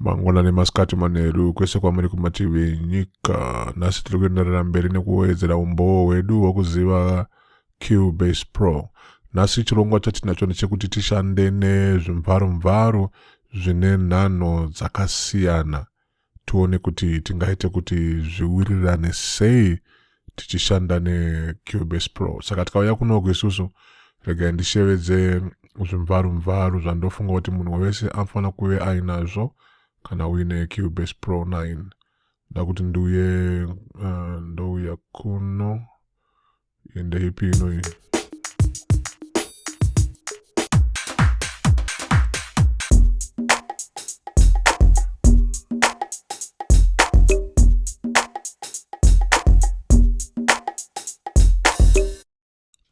mangwanani masikati manheru kwese kwamuri kumativi enyika nhasi tiri kuenderera mberi nekuwedzera umbowo hwedu hwekuziva cubase pro nhasi chirongwa chatinacho ndechekuti tishande nezvimvaromvaro zvine nhanho dzakasiyana tione kuti tingaite kuti zviwirirane sei tichishanda necubase pro saka tikauya kunoku isusu regai ndishevedze zvimvaru mvaru zvandofunga kuti munhu wese anofanira kuve ainazvo kana uine cubase pro 9 nda kuti ndiuye uh, ndouya kuno Ende ipi inoyi.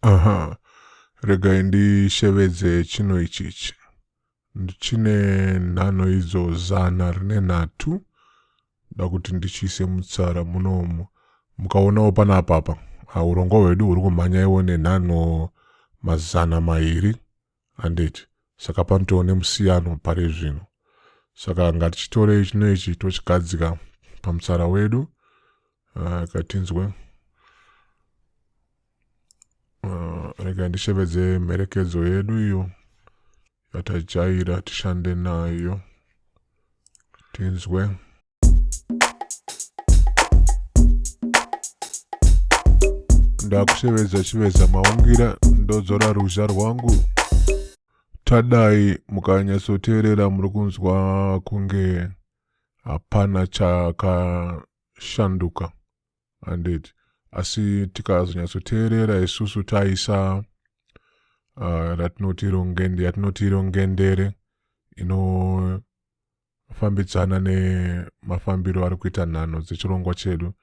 Aha, regai ndishevedze chino ichichi. ndichine nhano idzo zana rine nhatu da kuti ndichiise mutsara munomu mukaonawo pana apapa ah, urongwa hwedu huri kumhanya iwo nenhano mazana mairi handiti saka panotoo nemusiyano pari zvino saka ngatichitorei chino ichi tochigadzika pamutsara wedu uh, katinzwe Uh, rega ndishevedze mherekedzo yedu iyo yatajaira tishande nayo tinzwe ndakushevedza chiveza maungira ndodzora ruzha rwangu tadai mukanyatsoteerera muri kunzwa kunge hapana chakashanduka handiti asi tikazonyatsoteerera isusu taisa uh, ratinoti rongende yatinoti rongendere inofambidzana nemafambiro ari kuita nhano dzechirongwa chedu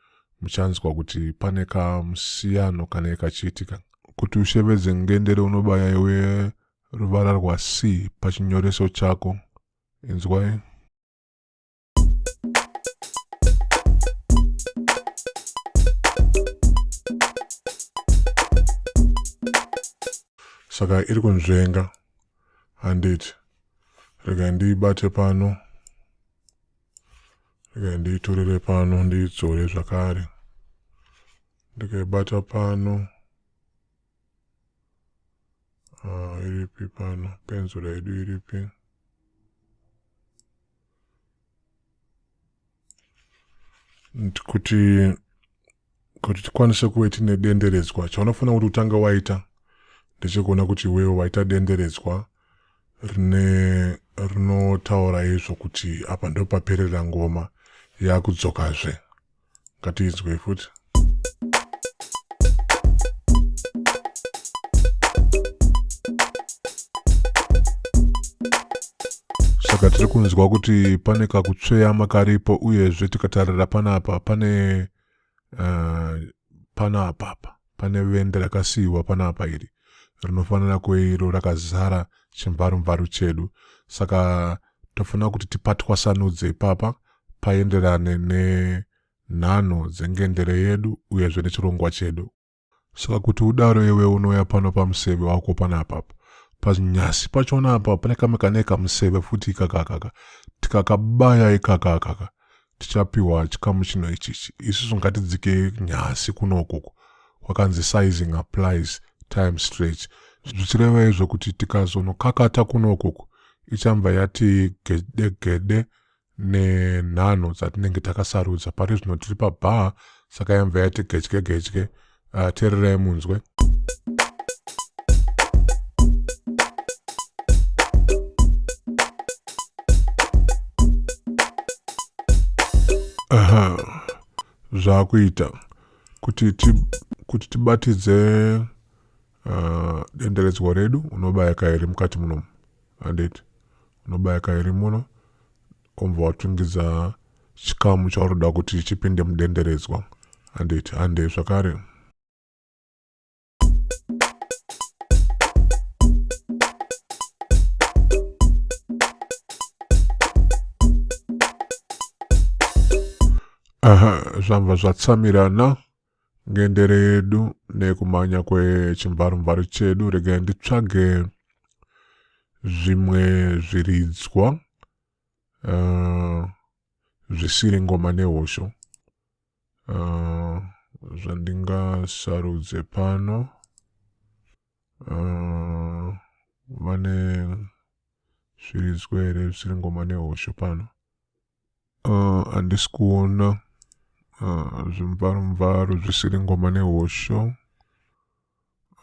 muchanzwa kuti pane kamusiyano kanee kachiitika kuti ushevedze ngendere unobaya iwe ruvara rwac pachinyoreso chako inzwai saka iri kunzvenga handiti rega ndiibate pano rega ndiitorere pano ndiidzore zvakare ndikaibata pano uh, iripi pano penzura yedu iripi kuti kuti tikwanise kuve tine denderedzwa chaunofanira kuti utanga waita ndechekuona kuti iwewo waita denderedzwa rine rinotaura izvo kuti apa ndopaperera ngoma yakudzokazve ngatinzwei futi saka tiri kunzwa kuti pane kakutsveyama karipo uyezve tikatarira panapa pane uh, eh, panapapa Pane vende rakasiiwa panapa iri rinofanira kuve iro rakazara chimvarumvaru chedu saka tofanira kuti tipatwasanudze ipapa paenderane nenhano dzengendere yedu uyezve nechirongwa chedu saka kuti udaro iwe unouya pano pamuseve wako panapa panyasi pachona apa pane kamwe kane kamuseve futi ikakakaka tikakabaya ikakakaka tichapiwa chikamu chino ichichi isusu ngatidzike nyasi kuno ukuku kwakanzi sizing applies time stretch zvichireva izvo kuti tikazonokakata kuno ukuku ichanva yati gede gede nenhanho dzatinenge takasarudza pari zvino tiri pabhaa saka yanva yati gedye gedye uh, tererai munzwe aha zvakuita kuti ti, kuti tibatidze uh, denderedzwa redu unobaya kairi mukati munomu handiti unobaya kairi muno Wobva watungidza chikamu chauri kuda kuti chipinde mudenderedzwa handiti handei zvakare aha zvabva zvatsamirana Ngendere yedu nekumhanya kwechimvarumvaru chedu regai nditsvage zvimwe zviridzwa uh, zvisiri ngoma nehosho uh, zvandingasarudze pano uh, vane zviridzwa here zvisiri ngoma nehosho pano handisi uh, kuona uh, zvimvaro mvaro zvisiri ngoma nehosho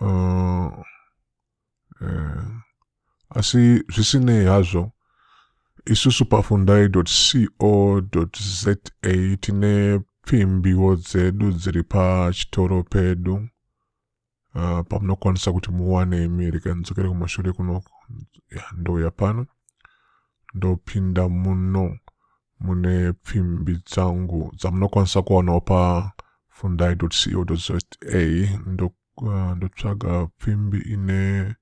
uh, eh, asi zvisinei hazvo isusu pafundai co za tine pfimbiwo dzedu dziri pachitoro pedu uh, pamunokwanisa kuti muwane imi rega ndidzokere kumashure kuno ndouya pano ndopinda muno mune pfimbi dzangu dzamunokwanisa kuwanawo pafundai co za ah, ndotsvaga pfimbi ine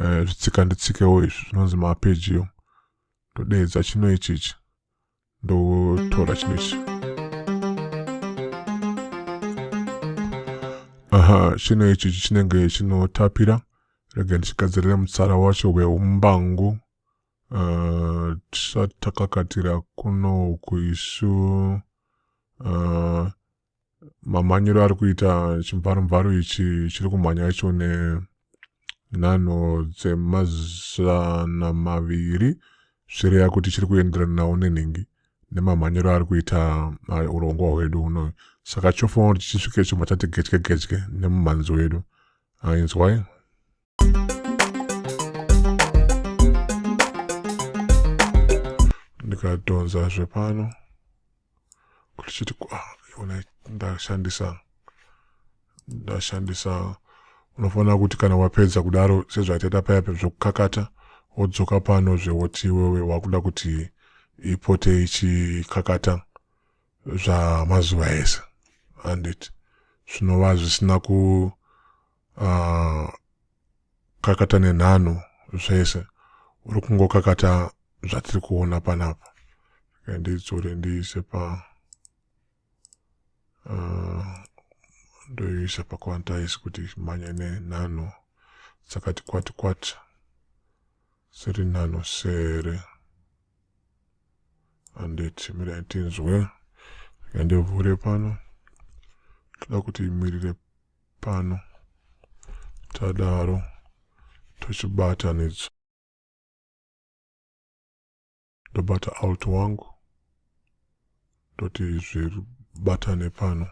eh, zvitsika nditsikewo izvi zvinonzi mapeji yo ndodeedza chino ichichi ndotora chinhu ichi aha chinhu ichi chinenge chinotapira rega ndichigadzirira mutsara wacho weumbangu uh, tisatakakatira kuno kuisu uh, mamhanyiro ari kuita chimvarumvaro ichi chiri kumhanya icho nenhano dzemazana maviri zvireya kuti chiri kuenderanawo nenhingi nemamhanyiro ari kuita urongwa hwedu unoyu saka chofanira kuti chisvike chobva chati gedye gedye nemumhanzi wedu ainzwai ndikadhonza zvepano kuti chiti ona ndashandisa ndashandisa unofanira kuti kana wapedza kudaro sezvataita paya zvekukakata wodzoka pano zvewoti iwewe wakuda kuti ipote ichikakata zvamazuva ese andit zvinova zvisina ku uh, kakata nenhano zvese uri kungokakata zvatiri kuona panapa ndidzore ndiise pa uh, ndoiisa paquantize kuti mhanye nenhano dzakati kwati kwati dziri nano sere handiti mirai tinzwe rega ndivhure pano toda kuti imirire pano tadaro tochibatanidzwa ndobata alt wangu toti zvibatane pano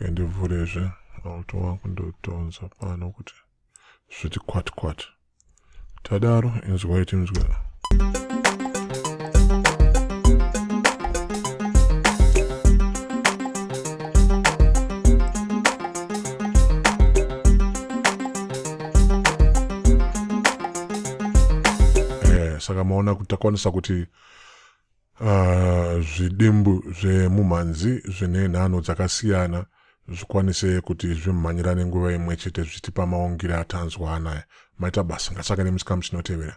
okay, ndivhurezve autowa kundotonza pano kuti zviti kwati kwati tadaro inzwai tinzwe eh, saka maona kuti takwanisa kuti Uh, zvidimbu zvemumhanzi zvine nhano dzakasiyana zvikwanise kuti zvimhanyirane nguva imwe chete zvichitipa maungire atanzwa anaya maita basa ngatsvake nemuchikamu chinotevera